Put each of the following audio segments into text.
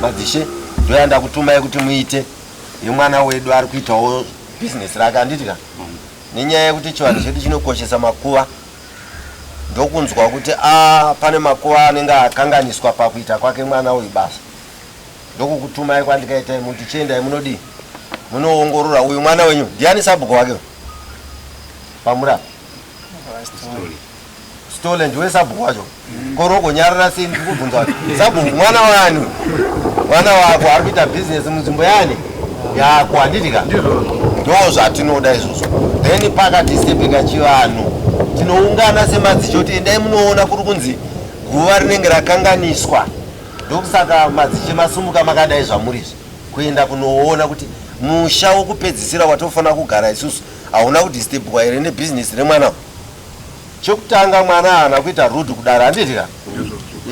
madzishe ndoya ndakutumai kuti muite yemwana wedu ari kuitawo bhizinesi rake anditi ka nenyaya yekuti chivanhu chedu chinokoshesa makuva ndokunzwa kuti a ah, pane makuva anenge akanganiswa pakuita kwake mwana uyu basa ndokukutumai kwandikaitai muti chiendai munodii munoongorora uyu mwana wenyu ndiani sabhuko wake pamura stole ndiwe sabhuko wacho koroko nyarara sei ndikubvunza wacho sabhuko mwana wani mwana wako ari kuita bhizinesi munzvimbo yani yako handiti ka ndo zvatinoda izvozvo then pakati sepeka chivanhu tinoungana semadzicho kuti endai munoona kuri kunzi guva rinenge rakanganiswa Ndokusaka madziche masumuka makadai zvamuri izvi kuenda kunoona kuti musha wokupedzisira watofanira kugara isusu hauna kudistebwa here nebhizinesi remwana chekutanga mwana haana kuita rud kudare handiti ka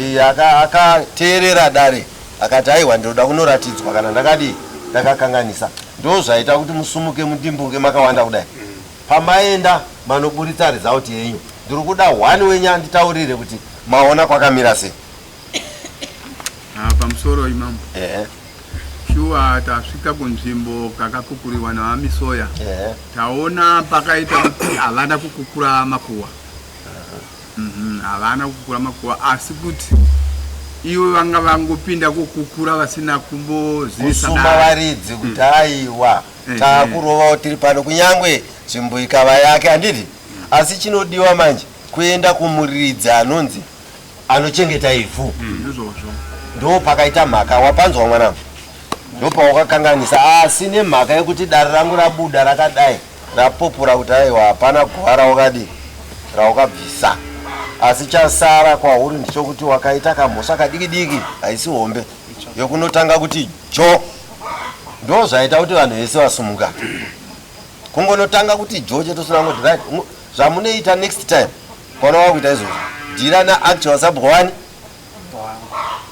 iye akateerera dare akati aiwa ndinoda kunoratidzwa kana ndakadii ndakakanganisa ndo zvaita kuti musumuke mudimbunge makawanda kudai pamaenda manoburitsa result yenyu ndiri kuda one wenyu anditaurire kuti maona kwakamira sei Ah, pamusoro imambo ehe shuwa tasvika kunzvimbo kakakukuriwa naamisoya ehe taona pakaita kuti havana kukukura makuwa Mhm, havana kukukura makuwa asi kuti ivo vanga vangopinda kukukura vasina kumbozivisa kusuma dare. varidzi kuti aiwa Eh, takurovawo tiri pano kunyangwe nzvimbo ikava yake handiti asi chinodiwa manje kuenda kumuridzi anonzi anochengeta ivhu ndizvozvo ndo pakaita mhaka wapanzwa mwanangu ndo pawakakanganisa asi nemhaka yekuti dare rangu rabuda rakadai rapopora kuti aiwa hapana guva rawakadi rawakabvisa asi chasara kwauri ndichokuti wakaita kamhosva kadiki diki haisi hombe yokunotanga kuti jo ndo zvaita kuti vanhu vese vasumuka kungonotanga kuti jo chete usina kungoti right ngo- zvamunoita next time Kona wakuita izvozvo. Dira na actual sub one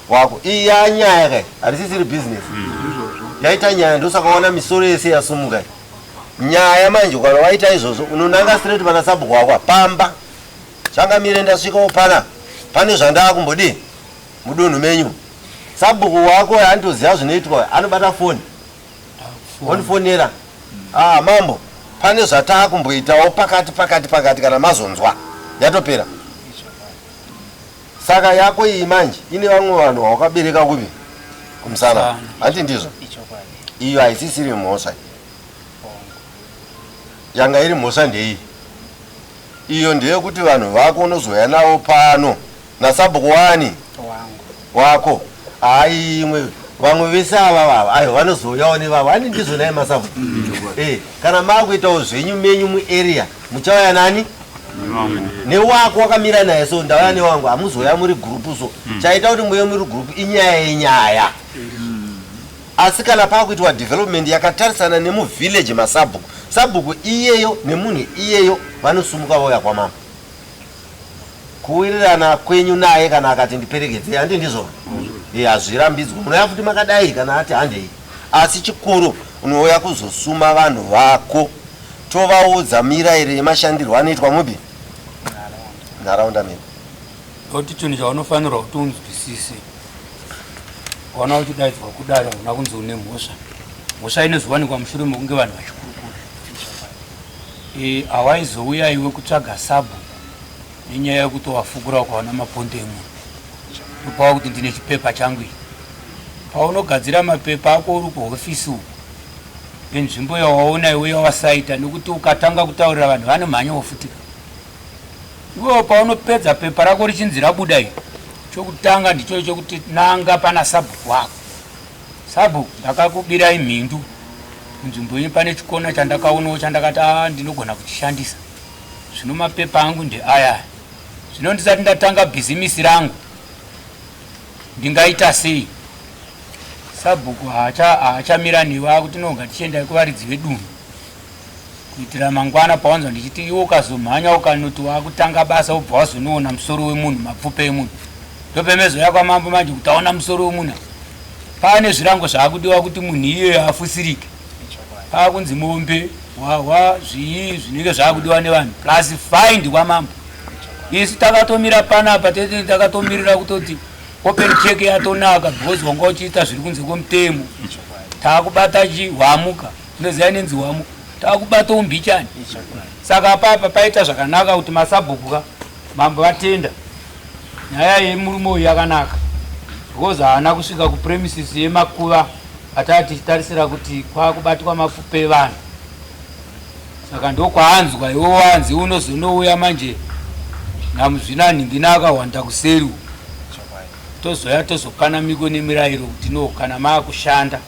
wako. Iya nyaya kai. Harisisiri business. Yaita nyaya ndosaka waona misoro yese yasumuka. Nyaya manje ukana waita izvozvo unonanga straight pana sub wako pamba. Changa mire ndasvika opana. Pane zvandaa kumbodii mudunhu menyu. Sabhuku wako andoziva zvinoitwa anobata foni. wondifonera ah mambo pane zvataakumboitawo pakati pakati pakati kana mazonzwa yatopera saka yako iyi manje ine vamwe vanhu vawakabereka kupi kumusana hanti ndizvo iyo haisisiri mhosva yanga iri mhosva ndeiyi iyo ndeyekuti vanhu vako unozouya navo pano nasabhuku wani wako hayi imwe vamwe vese ava vava ayo vanozouyawo nevavo ani ndizvo naye masavu eh, kana maakuitawo zvenyu menyu muarea muchauya nani newako wakamira naye so ndauya newangu hamuzoya muri gurupu so hmm. chaita kuti muye muri gurupu inyaya yenyaya hmm. asi kana paakuitwa development yakatarisana nemuvillage masabhuku sabhuku iyeyo nemunhu iyeyo vanosumuka vauya kwamama Kuwirirana kwenyu naye kana akati ndiperekedzei handi ndizvo e hazvirambidzwe munouya futi makadai kana ati handei asi chikuru unouya kuzosuma vanhu vako tovaudza mirayiro yemashandirwo anoitwa mubi nharaunda medu nekuti chinhu chaunofanirwa kuti unzwisise waona uchidaidzwa kudari hauna kunzi une mhosva mhosva inozowanikwa mushure mekunge vanhu vachikurukura Hawaizouya iwe kutsvaga sabhuku nenyaya yekutovafukura ukaona maponde emunhu ndopava kuti ndine chipepa changu iyi paunogadzira mapepa ako uri kuhofisi uku nenzvimbo yawaona iwe yawasaita nekuti ukatanga kutaurira vanhu vanomhanya wofutika iwewo paunopedza pepa rako richinzi rabuda iri chokutanga ndicho chokuti nanga pana sabhuku wako Sabhuku ndakakubirai mhindu munzvimbo yenyu pane chikona chandakaonawo chandakati a ndinogona kuchishandisa zvino mapepa angu ndeaya zvino ndisati ndatanga bhizimisi rangu ndingaita sei sabhuku haachamira newe akuti noga tichiendai kuvaridzi vedunhu kuitira mangwana pawanzwa ndichiti iwe ukazomhanya ukanoti wakutanga basa ubva wazonoona musoro wemunhu mapfupa emunhu ndopemezoya kwamambo manje kuti aona musoro wemunhu paane zvirango zvaakudiwa kuti munhu iyeyo afusirike paakunzi mombe hwahwa zvii zvinenge zvaakudiwa nevanhu plus find kwamambo isu takatomira panapa tete takatomirira kutoti open check yatonaka because wanga uchiita zviri kunze kwemutemo taakubata chihwamuka Ndoziva inenzi wamo takubata umbichani saka apapa paita zvakanaka kuti masabhuku ka mambo vatenda nyaya yemurume uyu yakanaka because haana kusvika kupremises yemakuva ataa tichitarisira kuti kwakubatwa mafupa evanhu saka ndokwaanzwa iwo wanzi unozonouya manje namuzvina nhingina akahwanda kuseri tozoya tozopana miko nemirairo kuti no kana maakushanda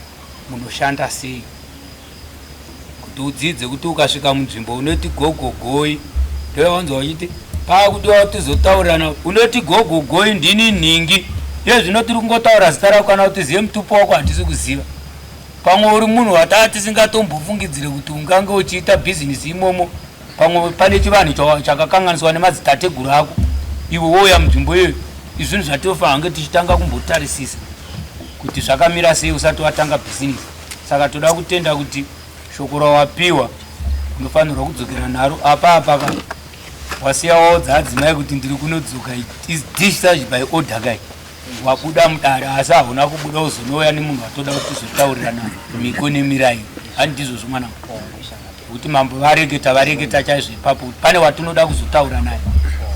munoshanda sei kuti udzidze kuti ukasvika munzvimbo unoti gogogoi ndoyawanzwa wachiti paakudiwa tizotaurirana unoti gogogoi ndini nhingi iye zvino tiri kungotaura zita rako kana kuti zive mutupo wako handisi kuziva pamwe uri munhu wataa tisingatombofungidzire kuti ungange uchiita bhizinisi imomo pamwe pane chivanhu chakakanganiswa nemadzitateguru ako iwe wouya munzvimbo iyoyo izvinhu zvatinofanira kunge tichitanga kumbotarisisa kuti zvakamira sei usati watanga bhizinesi saka toda kutenda kuti shoko rawapiwa unofanirwa kudzokera nharo apa apa ka wasiya waudza adzimai kuti ndiri kunodzoka is dish such by order kai wabuda mudare asi hauna kubuda uzonouya nemunhu watoda kuti tizotaurirana miko nemirai hani ndizvozvo mwana kuti mambo vareketa vareketa chaizvo ipapo kuti pane watinoda kuzotaura naye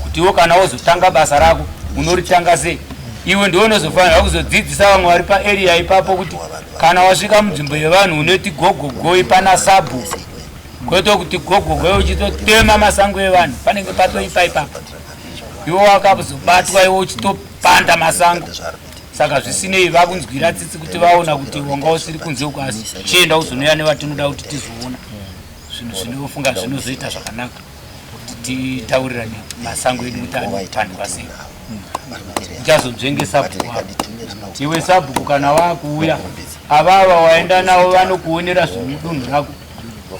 kuti iwo kana wozotanga basa rako unoritanga sei iwe ndiwe unozofanira kuzodzidzisa vamwe vari paarea ipapo kuti kana wasvika munzvimbo yevanhu unoti gogogoi pana sabhu kwete kuti gogogoi uchitotema masango evanhu panenge patoipa ipapo iwo wakazobatwa iwo uchitopanda masango saka zvisinei vakunzwira tsitsi kuti vaona kuti wanga usiri kunze uko asi chienda uzonoya nevatinoda kuti tizoona zvinhu zvinofunga zvinozoita zvakanaka kuti titaurirane masango edu kuti anopandwa sei uchazonzvengesa iwe sabhuku kana waakuuya avava waenda navo vanokuonera zvemudunhu rako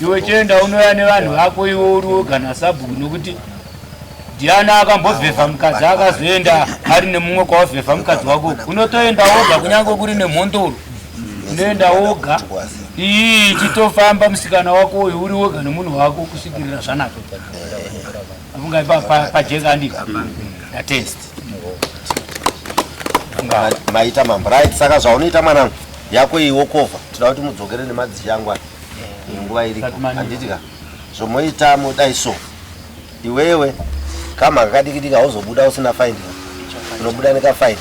iwe chienda unoya nevanhu vako iwo uri woga nasabhuku nokuti diana akambovhevha mukadzi akazoenda ari nemumwe kwawavhevha mukadzi wako unotoenda woga kunyange kuri nemhondoro unoenda woga ii chitofamba musikana wako uyu uri woga nemunhu wako kusvikirira zvanaka afungai pajeka andii atest maita mambo right saka zvaunoita mwanangu yako iyi wokova tinoda kuti mudzokere nemadzishe angu aya nguva iriko handiti ka zvomoita modai so iwewe kama kakadikidika hauzobuda usina faini unobuda nekafaini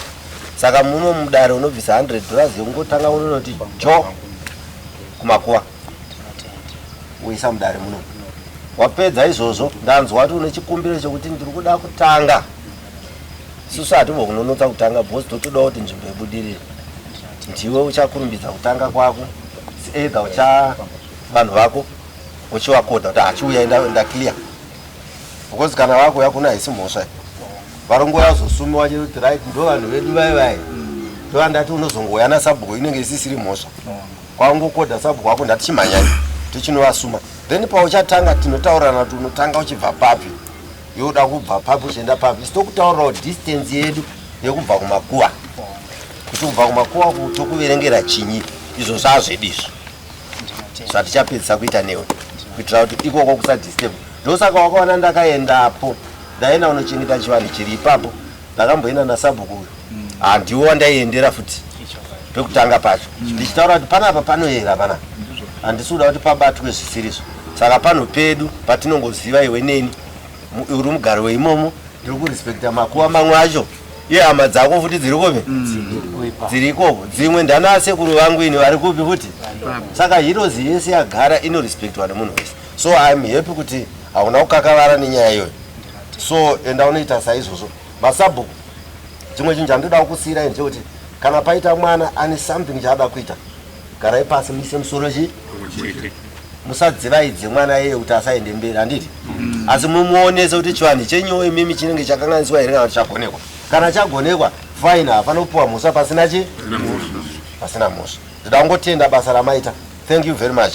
saka muno mudare unobvisa 100 dollars yekungotanga unonoti jo kumakuva woisa mudare muno wapedza izvozvo ndanzwa kuti une chikumbiro chekuti ndiri kuda kutanga susu hatibo kunonotsa kutanga bhozi totoda kuti nzvimbo yebudirire ndiwe uchakurumbidza kutanga kwako either ucha vanhu vako uchivakoda kuti hachiuya enda enda clear because kana vakuuya kuna haisi mhosva varongo yazosumiwa chero kuti right ndo vanhu vedu vai vai ndovandati unozongouya nasabhuku inenge isisiri mhosva kwaungokoda sabhuku wako ndati chimhanyai tichinovasuma then pauchatanga tinotaurana kuti unotanga uchibva papi yoda kubva papi uchienda papi sitokutaurirawo distance yedu yekubva kumakuwa kuti kubva kumakuwa tokuverengera chinyi izvo zvazvedi izvo zvatichapedzisa kuita newe kuitira kuti ikoko kusadisturb ndosaka wakaona ndakaendapo ndaenda unochengeta chivanhu chiri ipapo ndakamboenda nasabhuku uyu handiwo wandaiendera futi pekutanga pacho ndichitaura kuti panapa panoyera pana handisi kuda kuti pabatwe zvisirizvo saka panhu pedu patinongoziva iwe neni uri mugari weimomo ndiri kurespekta makuva mamwe acho iye hama dzako futi dziri kupi dziri ikoko dzimwe ndanaa sekuru vangu ini vari kupi futi saka hirozi yese yagara inorespektwa nemunhu wese so iam happy kuti hauna kukakavara nenyaya iyoyo so enda unoita saizvozvo masabhuku chimwe chinhu chandoda kukusiirai ndechekuti kana paita mwana ane something chaada kuita garai pasi muise musoro chi musadzivaidze mwana yeye kuti asaende mberi handiti mm. asi mumuonese kuti chivanhu chenyowo imimi chinenge chakanganiswa here kana kuti chagonekwa kana chagonekwa fine hafana kupiwa mhosva pasina chi pasina mhosva ndoda kungotenda basa ramaita thank you very much